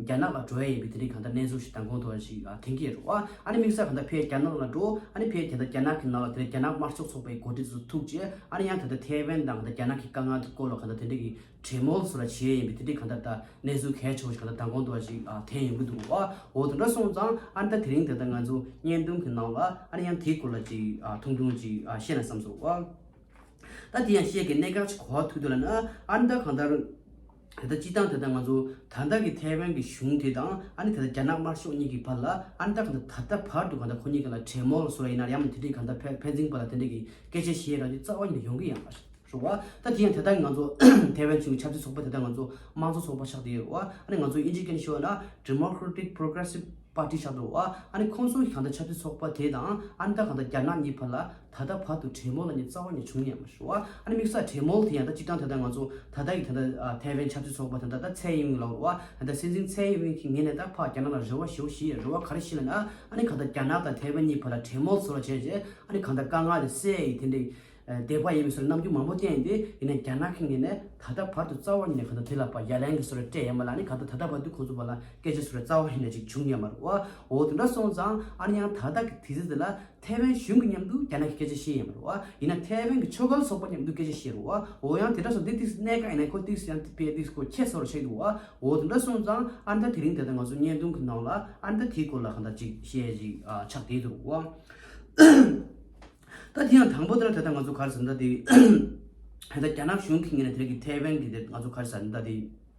རྒྱ་ནག་ལ་འགྲོ་ཡ་ཡིན་པའི་དེ་རིང་གང་འདྲ་གནས་ཚུལ་ཞིག་དང་གོང་དུ་འོན་ཞིག་ཐེངས་ཀྱི་རེད་བ། ཨ་ནི་དམིགས་བསལ་གང་འདྲ་ཕེ་རྒྱ་ནག་ལ་འགྲོ། ཨ་ནི་ཕེ་དེ་འདྲ་རྒྱ་ནག་གི་ནང་ལ་དེ་འདྲ་རྒྱ་ནག་དམར་ཕྱོགས་ཚོགས་པའི་འགོ་ཁྲིད་དེ་ཚོ་ཐུག་རྗེས་ཨ་ནི་ཡང་དེ་འདྲ་ཐེ་ཝན་དང་གང་འདྲ་རྒྱ་ནག་གི་དཀའ་ངལ་དུ་བཀོལ་བ་གང་འདྲ་དེ་འདྲ་གི་གྲེ་མོལ་སུ་ལ་བྱེད་ཡ་ཡིན་པའི་དེ་འདྲའི་གང་འདྲ་ལྟ་གནས་ཚུལ་གལ་ཆེ་བོ་ཞིག་གང་འདྲ་དང་གོང་དུ་འོན་ཞིག་ཐེངས་ཡོང་གི་འདུག་བ། འོ་དེ་འདྲ་སོང་ཙང་ཨ་ནི་ད་དེ་རིང་དེ་ལྟ་ང་ཚོ་བརྙན་ཐུང་གི་ནང་ལ་ཨ་ནི་ཡང་དེའི་སྐོར་ལ་ཅིག་ཐུང་ཐུང་ཅིག་བཤད་ན་བསམ་སོང་བ། ད་དེ་ཡང་བཤད་དགོས་གནད་འགག་ཅིག་གོ་བ་ཐུག་དོན་ལ་ནི་ཨ་ནི་ད་གང་འདྲ། དེ་ལྟར་སྤྱི་བཏང་དེ་ལྟར་ང་ཚོ་ད་ལྟ་གི་ཐའེ་ཝན་གྱི་གཞུང་དེ་དང་ཨ་ནི་ད་ལྟ་རྒྱ་ནག་དམར་ཤོག་གཉིས་ཀྱི་བར་ལ་ཨ་ནི་ད་གང་ད་ད་ལྟ་བར་དུ་གང་ལྟར་ཁོ་གཉིས་ཀྱི་ལ་འཕྲད་མོལ་བཟོ་ར་ཡིན་ན་ཡང་མི་དེ་འདྲའི་གང་ལྟར་ཕན་ཕན་ཚིན་པ་ལ་དེ་འདྲའི་གི་སྐད་ཆ་བཤད་ར་རྒྱུ་རྩ་བ་ཉིད་ལ་ཡོང་གི་ཡང་མ་རེད་བ་ད་དེ་ཡང་དེ་ལྟར་ང་ཚོ་ཐའེ་ཝན་ཆུང་གི་ཆབ་སྲིད་ཚོགས་པ་དེ་ལྟར་ང་ཚོ་དམངས་གཙོ་ཚོགས་པ་ཆགས་དེ་ཡོད་རེད་བ་ཨ་ནི་ང་ཚོ་དབྱིན་ཇིའི་སྐད་ནས་ཤོད་ན Democratic Progressive Party ཆགས་འདུག་བ་ཨ་ནི་ཁོང་ཚོ་གང་ལྟར་ཆབ་སྲིད་ཚོགས་པ་དེ་དང་ཨ་ནི་ད་གང་ལྟར་རྒྱ་ནག་གཉིས་བར་ལ། ད་ལྟ་བར་དུ་གྲེས་མོལ་ལ་ནི་རྩ་བ་ནས་བྱུང་ཡང་མ་བྱུང། ཨ་ནི་མིག་སོགས་གྲེས་མོལ་དེ་ཡང་ད་སྤྱིར་བཏང་ད་ལྟ་ང་ཚོ་ད་ལྟ་ཡི་ད་ལྟ་ཐའེ་ཝན་ཆབ་སྲིད་ཚོགས་པ་དང་ད་ལྟ་ཚའེ་ཡིན་ཝིན་ལ་བ་དང་ད་སྲིད་འཛིན་ཚའེ་ཡིན་ཝིན་གྱི་ངེད་ནས་ད་ཕག་རྒྱ་ནག་ལ་རེ་བ་ཞེ་བོ་ཞིག་ཡོད་རེ་བ་ག་རེ་ཞིག་ལ་ནི་ཨ་ཨ་ནི་ག་ད་རྒྱ་ནག་དང་ཐའེ་ཝན་གཉིས་བར་ལ་གྲེས་མོལ་ཟེར་བ་བྱས་རྗེས་ཨ་ནི་གང་ད་དཀའ་ངལ་དེ་སེལ་ཡི་དེ་འདྲ་བདེ་བ་ཡིན་མིན་སོགས་ལ་རྣམ་འགྱུར་མང་པོ་བསྟན་ཏེ་ཡིན་ན་རྒྱ་ནག་གི་ངེད་ནས་ད་ལྟ་བར་དུ་རྩ་བ་ནས་ག་ད་དེ་ལ་བ་ཡ་ལན་གྱི་སོ་ར་སྤྲད་ཡ་མ་ལ་ཨ་ནི་ག་ད་ད་ལྟ་བར་དུ་ཁོང་ཚོ་བར་ལ་སྐད་ཆ་སོ་ར་རྩ་བ་ནས་ཅིག་བྱུང་ཡ་མ་རུ་བ་འོ་དེ་འདྲ་སོང་ཙང་ཨ་ནི་ཡང་ད་ལྟ་གི་དུས་ཚོད་དེ་ལ་ཐའེ་ཝན་གཞུང་གི་མཉམ་དུ་རྒྱ་ནག་གི་སྐད་ཆ་ཤེས་ཡིན་པ་རུ་བ། ཡིན་ན་ཐའེ་ཝན་གྱི་ཆོ་ག་ལ་སོགས་པ་མཉམ་དུ་སྐད་ཆ་ཤེས་རུ་བ། འོ་ཡང་དེ་འདྲ་སོང་དེ་དུས་སུ་གནད་འགག་ཡིན་ན་ཁོ་དུས་སུ་ཡང་དེ་དཔེ་དུས་སྐོར་ཁྱད་མཚར་བར་ཆགས་འདུག་བ། འོ་དེ་འདྲ་སོང་ཙང་ཨ་མདའ་དེ་རིང་དེ་ལྟར་ང་ཚོ་བརྙན་ཐུང་གི་ནང་ལ་ཨ་མདའ་དེའི་སྐོར་ལ་གང་འདྲ་ཅིག་བཤད་ཅིག་ཆགས་བསྡད་འདུག་རུ་བ། ད་དེ་ཡང་དང་པོ་དེ་ལ་དེ་ལྟར་ང་ཚོ་ག་རེ་ཟེར་འདའ་དེ། ད་རྒྱ་ནག་གཞུང་གིས་ངེད་ལ་དེ་རིང་གི་ཐའེ་ཝན་གྱི་དེར་ང་ཚོ་ག་རེ་ཟེར་འདའ་དེ།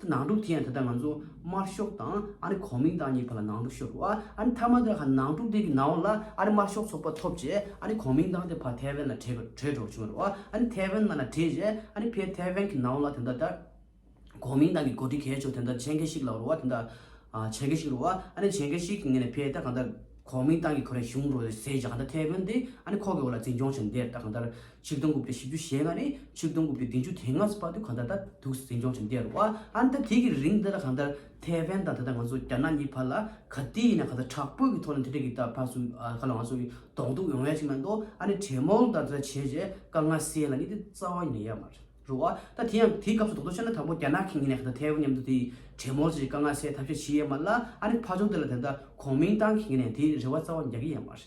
དེ་ནང་དཀྲུགས་དེ་ཡང་ད་ལྟ་ང་ཚོ་དམར་ཤོག་དང་ཨ་རི་གོ་མིང་དང་གཉིས་བར་ལ་ནང་དཀྲུགས་ཤོར་བ་ཨ་རི་མཐའ་མ་དེ་ཁ་ནང་དཀྲུགས་དེ་གི་ནང་ལ་ཨ་རི་དམར་ཤོག་ཚོགས་པ་ཐོབ་རྗེས་ཨ་རི་གོ་མིང་དང་དེ་བར་ཐའེ་ཝན་ལ་བྲེལ་བྲེལ་དྲོགས་བྱུང་བ་རེད་བ་ཨ་རི་ཐའེ་ཝན་ང་ལ་བྲེལ་རྗེས་ཨ་རི་ཕའི་ཐའེ་ཝན་གི་ནང་ལ་དེ་འདྲ་དར་གོ་མིང་དང་གི་གོ་སྒྲིག་གལ་ཆོག་དེ་འདྲ་བྱེད་མཁན་ཞིག་ལ་རོ་བ་དེ་འདྲ་བྱེད་མཁན་ཞིག་རོ་བ་ཨ་རི་བྱེད་མཁན་ཞིག་གི་ངེད་ནས་ཕའི་ད་གང་ལྟར་གོ་མིང་དང་གི་གོ་རེ་བྱུང་རོ་ཟེར་རྗེས་གང་ལྟར་ཐའེ་ཝན་དེ་ཨ་རི་ཁོག་གི་འོག་ལ་འཛིན་སྐྱོང་བྱེད་འདེར་ད་གང་ལྟར་ཆིག་སྟོང་དགུ་བརྒྱ་བཞི་བཅུ་ཞེ་ལྔ་ནས་ཆིག་སྟོང་དགུ་བརྒྱ་བདུན་ཅུ་དེ་སྔ་ཕ་དུས་གང་ད་ལྟ་དུག་ཟིང་འཇོག་ཅིང་བསྡད་འདུག་ཨ་མདའ་དེ་གི་རིང་འདི་ལ་གང་ལྟར་ཐའེ་ཝན་དང་ད་ལྟ་ང་ཚོ་རྒྱ་ནག་གཉིས་བར་ལ་ག་དུས་ཡིན་ན་ག་ཚ་དྲག་པོའི་གི་ཐོག་ནས་འཐེན་འཁྲིད་གི་ད་བར་སུ་ག་ལ་ང་ཚོ་གི་དོག་འདུག་ཡོང་ཡ་ཅིག་མ་འདུག་ཨ་ནི་དྲེད་མོང་དང་ད་ལྟ་བྱས་རྗེས་དཀའ་ངལ་སེལ་ལ་ནི་དེ་རྩ་བ་ཉེ་ཡ་མ་རུ་ཨ་ད་དེ་ཡང་དེ་སྐབས་སུ་དོག་འདུག་བྱས་ན་དང་པོ་རྒྱ་ནག་གི་ངེད་ནས་ག་ད་ཐའེ་ཝན་མཉམ་དུ་དེ་དྲེད་མོང་བྱས་རྗེས་དཀའ་ངལ་སེལ་ཐབས་ཤེས་བྱེད་ཡ་མ་ལ་ཨ་ནི་ཕ་ཆུང་དེ་ལ་དེ་ད་གོང་མིང་ཏང་གི་ངེད་ནས་དེ་རེ་བ་རྩ་བ་རྒྱག་གི་ཡ་མ་རེད།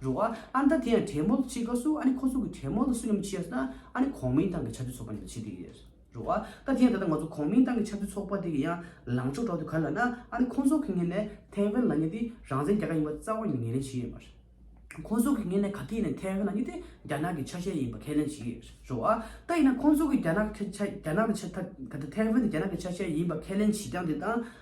རུ་ཨ་ཨ་ད་དེ་ཡང་དྲེད་མོ་ལ་ཅི་དགའ་སུ་ཨ་ནི་ཁོ་ཚོ་གི་དྲེད་མོ་ལ་སུ་ཡང་མི་ཆེ་ཡ་སུ་ན་ཨ་ནི་གོང་མིན་ཏང་གི་ཆབ་སྲིད་ཚོགས་པ་ནས་ཆེ་གི་ཡོད་རུ་ཨ་ད་དེ་ཡང་ད་ལྟ་ང་ཚོ་གོང་མིན་ཏང་གི་ཆབ་སྲིད་ཚོགས་པ་དེ་གི་ཡང་ལངས་ཕྱོགས་གྲོགས་དེ་ག་ལ་ན་ཨ་ནི་ཁོང་ཚོ་གི་ངེད་ནས་ཐེ་ཝན་ལ་ཉེ་དེ་རང་བཙན་རྒྱལ་ཁ་ཡིན་པ་རྩ་བ་ནས་ངེས་ལེན་བྱེད་ཡོད་མ་རེད་ཁོང་ཚོ་གི་ངེད་ནས་ག་གི་ནས་ཐེ་ཝན་ལ་ཉེ་དེ་རྒྱ་ནག་གི་ཆ་ཤས་ཡིན་པ་ཁས་ལེན་བྱེད་ཡོད་རུ་ཨ་ད་ཡིན་ན་ཁོང་ཚོ་གི་རྒྱ་ནག་གི་ཆ་རྒྱ་ནག་གི་ཆ་ད་ཐེ་ཝན་དེ་རྒྱ་ནག་གི་ཆ་ཤས་ཡིན་པ་ཁས་ལེན་བྱེད་རྐྱང་དེ་དང།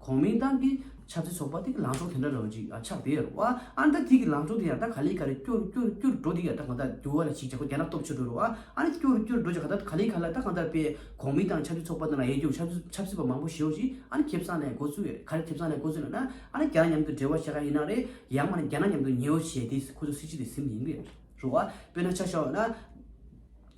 གོང་མའི་ཏང་གི་ཆབ་སྲིད་ཚོགས་པ་དེ་གི་ལངས་ཕྱོགས་དེ་འདྲ་རང་ཅིག་ཆགས་བསྡད་ཡོད་རེད་བ། ཨ་མདའ་དེ་གི་ལངས་ཕྱོགས་དེ་ཡང་ད་ག་ལེ་ག་ལེ་སྐྱུར་སྐྱུར་སྐྱུར་འགྲོ་འདུག་ཡ་ད་གང་ལྟར་འགྱུར་བ་ལ་ཞིག་བྱེད་དགོས་རྒྱ་ནག་སྟོབས་ཆེ་འགྲོ་རུ་བ། ཨ་ནི་སྐྱུར་སྐྱུར་འགྲོ་རྒྱ་ད་ག་ལེ་ག་ལེ་ད་གང་ལྟར་པའི་གོང་མའི་ཏང་ཆབ་སྲིད་ཚོགས་པ་དེ་ལ་ཡས་འགྱུར་ཆབ་སྲིད་ཆབ་སྲིད་པ་མང་པོ་ཞེའུ་ཞིག་ཨ་ནི་ཁེབས་བསགས་ནས་འགོ་ཚུགས་ཡོད་རེད་ག་ལེ་ཁེབས་བསགས་ནས་འགོ་ཚུགས་ཡོད་ན་ཨ་ནི་རྒྱ་ནག་མཉམ་དུ་འབྲེལ་བ་བྱེད་ག་ཡིན་ན་རེད་ཡང་མ་ནི་རྒྱ་ནག་མཉམ་དུ་ཉེའུ་བྱེད་དེ་ཁོ་ཚོ་སྲིད་སྤྱི་དེ་ཟིམ་ཡིན་གི་རེད་རུ་བ་དཔེར་ན་ཆ་བཞག་ཡོད་ན།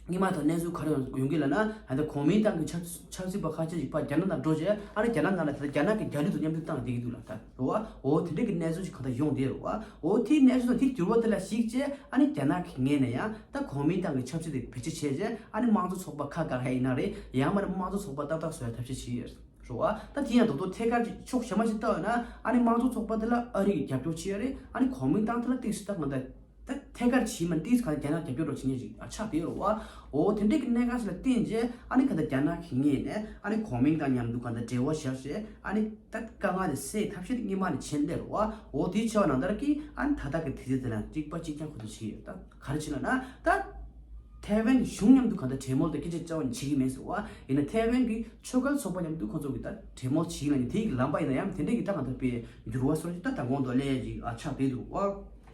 སྙིང་མ་དང་གནས་ཚུལ་ག་རེ་ཡོང་གི་ལ་ན་ད་ལྟ་གོ་མིན་ཏང་གི་ཆབ་ཆབ་སྲིད་པ་ཁ་ཆེ་ཞིག་པ་རྒྱ་ནག་ནང་འགྲོ་རྗེས་ཨ་ར་རྒྱ་ནག་ནང་ལ་ད་ལྟ་རྒྱ་ནག་གི་རྒྱ་ལུས་དང་མཉམ་འབྲེལ་བཏང་བསྡད་ཀྱི་འདུག་ལ་ད་རེ་བ་འོ་དེ་འདྲ་གི་གནས་ཚུལ་ཞིག་གང་ལྟར་ཡོང་བསྡད་རེ་བ་འོ་དེའི་གནས་ཚུལ་དང་དེ་འགྱུར་བ་དེ་ལ་གཞིགས་རྗེས་ཨ་ནི་རྒྱ་ནག་གི་ངེས་ནས་ཡང་ད་གོ་མིན་ཏང་གི་ཆབ་སྲིད་དེ་བེད་སྤྱད་བྱས་རྗེས་ཨ་ནི་དམངས་གཙོ་ཚོགས་པ་ཁ་བཀག་ཧེ་ཡིན་ན་རེ་ཡང་མ་ནི་དམངས་གཙོ་ཚོགས་པ་ཏག་ཏག་བཟོ་ཡ་ཐབས་ཤེས་བྱེད་རེ་བ་ད་དེ་ཡང་རྡོག་རྡོག་ཐད་ཀར་གྱི་ཕྱོགས་ཞེ་མ་ཞིག་བཏགས་ཡོད་ན་ཨ་ནི་དམངས་གཙོ་ཚོགས་པ་དེ་ལ་ཨ་རིག་གི་རྒྱབ་སྐྱོར་བྱེད་ཡ་རེ་ཨ་ནི་གོ་མིན་ཏང་དེ་ལ་སྟེགས་སུ་ད་ང་ད། ད་ཐད་ཀར་བྱིས་མ་ཏིས་ག་ལ་རྒྱ་ནག་རྒྱབ་སྐྱོར་རོགས་བྱེད་ངེས་རིགས་ཆགས་བསྡད་ཡོད་རེད་བ། འོ་དེ་འདྲའི་གི་གནད་འགག་ཞིག་ལ་བརྟེན་རྗེས་ཨ་ནི་ག་ད་རྒྱ་ནག་གི་ངེས་ནས་ཨ་ནི་གོ་མིང་དང་མཉམ་དུ་ག་ད་འབྲེལ་བ་བྱས་རྗེས་ཨ་ནི་ད་དཀའ་ངལ་དེ་སེལ་ཐབས་ཤིག་གཉིད་མ་ནས་བྱེད་བསྡད་རེད་བ། འོ་དེའི་ཆེ་བ་ནང་ལྟར་གི་ཨ་ནི་ད་ལྟ་གི་དུས་ཚོད་དེ་ན་གཅིག་པ་གཅིག་རྐྱང་ཁོ་ཚོ་བྱེད་ཀྱི་ཡོད་ད། ག་རེ་བྱེད་ན་ན། ད་ཐའེ་ཝན་གི་གཞུང་མཉམ་དུ་ག་ད་གྲོས་མོལ་དང་སྐད་ཆ་བཅར་བ་ནི་བྱེད་ཀྱི་མེད་ཟེར་བ། ཡིན་ན་ཐའེ་ཝན་གི་ཆོས་དཀར་ཚོགས་པ་མཉམ་དུ་ཁོ་ཚོ་གི་ད་གྲོས་མོལ་བྱེད་ཀྱི་ན་ནི་དེའི་གི་ལམ་པ་ཡིན་ན་ཡང་དེ་འདྲའི་གི་ད་ག་ད་པའི་འགྱུར་བ་སོགས་ཀྱི་ད་ད་གོང་དུ་སླེབས་ཀྱི་ཆགས་བསྡད་འདུག་བ།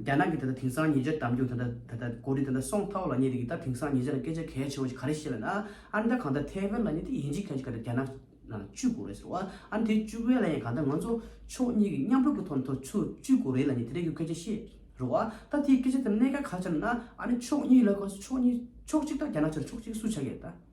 རྒྱ་ནག་གིས་ད་ལྟ་དེང་སང་ཉེ་ཆར་འདམ་རྒྱུག་དང་འདྲ་ད་ལྟ་གོ་རིག་དང་འདྲ་སོང་ཐོག་ལ་ཉེ་དེ་གི་ད་དེང་སང་ཉེ་ཆར་སྐད་ཆ་གལ་ཆེ་བ་ཞིག་ག་རེ་བཤད་པ་ན་ཨ་མདའ་གང་ལྟར་ཐའེ་ཝན་ལ་ཉེ་དེ་ཡིན་གཅིག་གལ་ཆེ་ག་ད་རྒྱ་ནག་ནང་ལ་བཅུག་དགོས་རེད་ཟེར་བ་ཨ་དེ་བཅུག་བས་ལ་ཡང་གང་ལྟར་ང་ཚོ་ཕྱོགས་གཉིས་ཀྱི་མཉམ་རུབ་ཀྱི་ཐོག་ནས་ཐོག་ཆུ་བཅུག་དགོས་རེད་ལ་ཉེ་དེ་རེད་ཀྱི་སྐད་ཆ་བཤད་རུ་བ་ད་དེའི་སྐད་ཆ་དེ་གནད་ཀ་ག་ཆ་ན་ཨ་ཕྱོགས་གཉིས་ལ་གོ་ཕྱོགས་གཉིས་ཕྱོགས་གཅིག་ད་རྒྱ་ནག་ཆོལ་ཕྱོགས་གཅིག་སུ་ཆ་གལ་ད།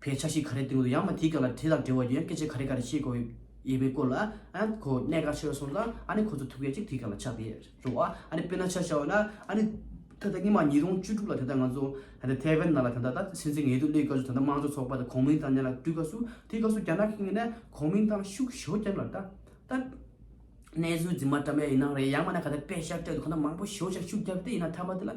བའི་ཆ་ཤས་ག་རེ་སྟེང་དུ་ཡང་མ་དེའི་སྐབས་ལ་དེ་དང་འབྲེལ་བ་ཡོད་སྐད་ཆ་ག་རེ་ག་རེ་བཤད་དགོས་ཡོད་པའི་སྐོར་ལ་ཨ་ནི་གོ་གནས་ག་ཆེ་བ་སོང་ཙང་ཨ་ནི་ཁོ་ཚོ་ཐུགས་ཁས་གཅིག་དེའི་སྐབས་ལ་ཆགས་པའི་རེད་བ་ཨ་ནི་དཔེར་ན་ཆ་བྱ་བ་ན་ཨ་ནི་ད་ལྟ་སྙིང་མ་ཉིས་སྟོང་བཅུ་དྲུག་ལ་དེ་ལྟར་ང་ཚོ་ད་ལྟ་ཐའེ་ཝན་ནང་ལ་ད་ལྟ་ད་ལྟ་སེམས་ཅན་ངལ་དུབ་གླེའི་སྐབས་སུ་ད་ལྟ་དམངས་གཙོ་ཚོགས་པ་དང་གོང་མིང་ཐང་ནས་ལ་བཀྲུས་སྐབས་སུ་དེའི་སྐབས་སུ་རྒྱ་ནག་གིས་ནས་གོང་མིང་ཐང་ཤུགས་ཞོ་རྒྱབ་ལ་ད་ད་གནས་ཚུལ་རྫུན་མ་བཀྲམ་པའི་ཡིན་ནའང་རེད་ཡང་མ་ན་ག་ད་དཔེ་ཤར་སྤྲད་དུ་ཁོ་ན་མང་པོ་ཞོ་ཤ་ཤུགས་རྒྱབ་སྟེ་ཡིན་ན་ཐ་མ་དེ་ལ།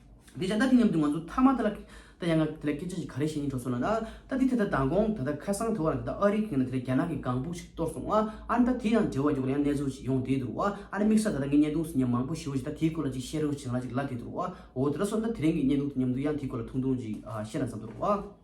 འདི་བྱས་ན་ད་དེ་སྙམ་དུ་ང་ཚོ་མཐའ་མ་དེ་ལ་ད་ཡང་ང་དེ་ལ་སྐད་ཆ་ཞིག་ག་རེ་བཤད་ཡིན་དྲོ་སོང་ལ་ན། ད་དེ་དེ་ལྟར་མདང་དགོང་ད་ལྟ་ཁ་སང་དེ་བ་རང་དེ་ལྟར་ཨ་རིའི་གིང་ན་དེ་ལ་རྒྱ་ནག་གི་སྒང་ཕུག་ཞིག་གཏོར་སོང་ཨ། ཨ་ན་ད་དེ་ཡང་འབྲེལ་བ་ཡོད་པ་ལ་ཡང་གནས་ཚུལ་ཞིག་ཡོང་བསྡད་འདུག་ཨ། ཨ་ན་དམིགས་ས་ད་ལྟ་ངའི་བརྙན་ཐུང་ཟིན་ཡང་མང་པོ་ཞིག་ཡོད་ཅིག་ད་དེའི་སྐོར་ལ་ཅིག་བཤད་རོགས་ཞིག་ང་ལ་ཅིག་ལབ་བསྡད་འདུག་ཨོ། དེ་ལྟར་སོང་ད་དེ་རིང་གི་བརྙན་ཐུང་དེ་ཉམས་འདུག་ཡང་དེའི་སྐོར་ལ་ཐུང་ཐུང་ཅིག་བཤད་ན་བསམ་འདུག་རོགས་ཨ།